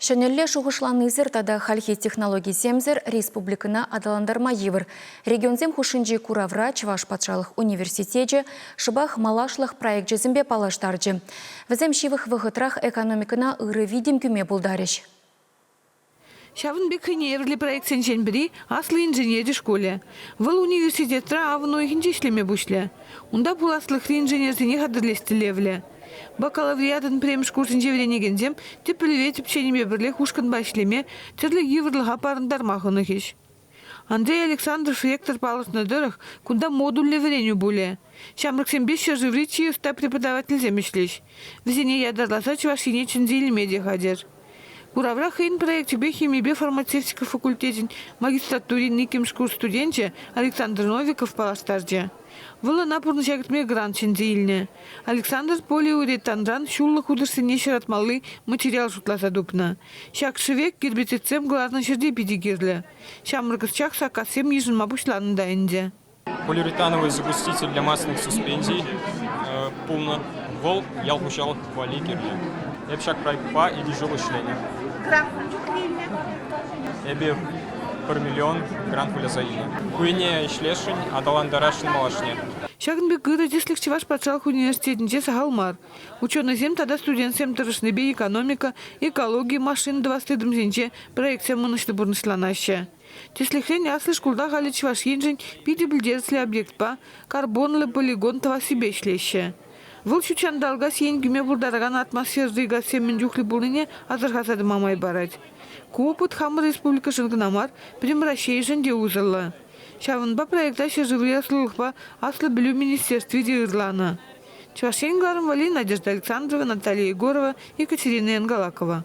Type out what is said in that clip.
Ҫӗнӗлле шухӑшланисӗр тата хальхи технологисемсӗр республикӑна аталантарма йывӑр. Регионсем хушшинчи куравра Чӑваш патшалӑх университечӗ шӑпах малашлӑх проекчӗсемпе паллаштарчӗ. Вӗсем ҫывӑх вӑхӑтрах экономикӑна ырӑ витӗм кӳме пултарӗҫ. Ҫавӑн пек хӑйнеевӗрлӗ проектсенчен пӗри Аслӑ инженери шкулӗ. Вӑл университетра авӑн уйӑхӗнче ӗҫлеме пуҫлӗ. Унта пуласлӑхри инженерсене хатӗрлес тӗллевлӗ. Бакалавриатӑн пӗрремӗш курсӗнче вӗренекенсем тӗпелпе тӗпченипе пӗрлех ушкӑнпа ӗҫлеме, тӗрлӗ йывӑрлӑха парӑнтарма хӑнӑхӗҫ. Андрей Александрович ректор палӑртнӑ тӑрӑх, кунта модульлӗ вӗренӳ пулӗ. Ҫамрӑксемпе ҫӗршыври чи ӑста преподавательсем ӗҫлӗҫ. Вӗсене ятарласа Чӑваш Ене чӗнсе илме те хатӗр. Куравра хӑйӗн проекчӗпе химипе фармацевтика факультечӗн магистратурин иккӗмӗш курс студенчӗ Александр Новиков паллаштарчӗ. Вӑл ӑна пурнӑҫа кӗртме грант ҫӗнсе илнӗ. Александр полиуретанран ҫуллӑ хутӑшсене ҫаратмалли материал шутласа тупнӑ. Ҫак шӗвек гербицидсем кӑларнӑ ҫӗрте питӗ кирлӗ. Ҫамрӑк ӑсчах саккассем йышӑнма пуҫланӑ та ӗнтӗ. Полиуретановый загуститель для масляных суспензий пулнӑ. Вӑл ял хуҫалӑх валли кирлӗ. Эп ҫак проектпа икӗ ҫул ӗҫленӗ. Грант мӗн чухлӗ илнӗ эпир? пӗр миллион грант выляса илнӗ. Ку ене ӗҫлесшӗн, аталантарасшӑн малашне. Ҫакӑн пек ырӑ тӗслӗх Чӑваш патшалӑх университетӗнче сахал мар. Ученӑйсем тата студентсем тӑрӑшнипе экономика, экологи, машина тӑвас тытӑмсенче проектсем ӑнӑҫлӑ пурнӑҫланаҫҫӗ. Тӗслӗхрен, аслӑ шкулта халӗ Чӑваш Еншӗн питӗ пӗлтерӗшлӗ объектпа карбонлӑ полигон тӑвассипе ӗҫлеҫҫӗ. Вӑл ҫутҫанталӑка сиен кӳме пултаракан атмосферӑри газсем мӗн чухлӗ пулнине асӑрхаса тӑма май парать. Ку опыт хамӑр республикӑшӑн кӑна мар, пӗтӗм Раҫҫейшӗн те усӑллӑ. Ҫавӑнпа проекта ҫӗршыври ӑслӑлӑхпа аслӑ пӗлӳ министерстви те ырланӑ. Чӑваш Ен кӑларӑм валли Надежда Александрова, Наталья Егорова, Екатерина Янгалакова.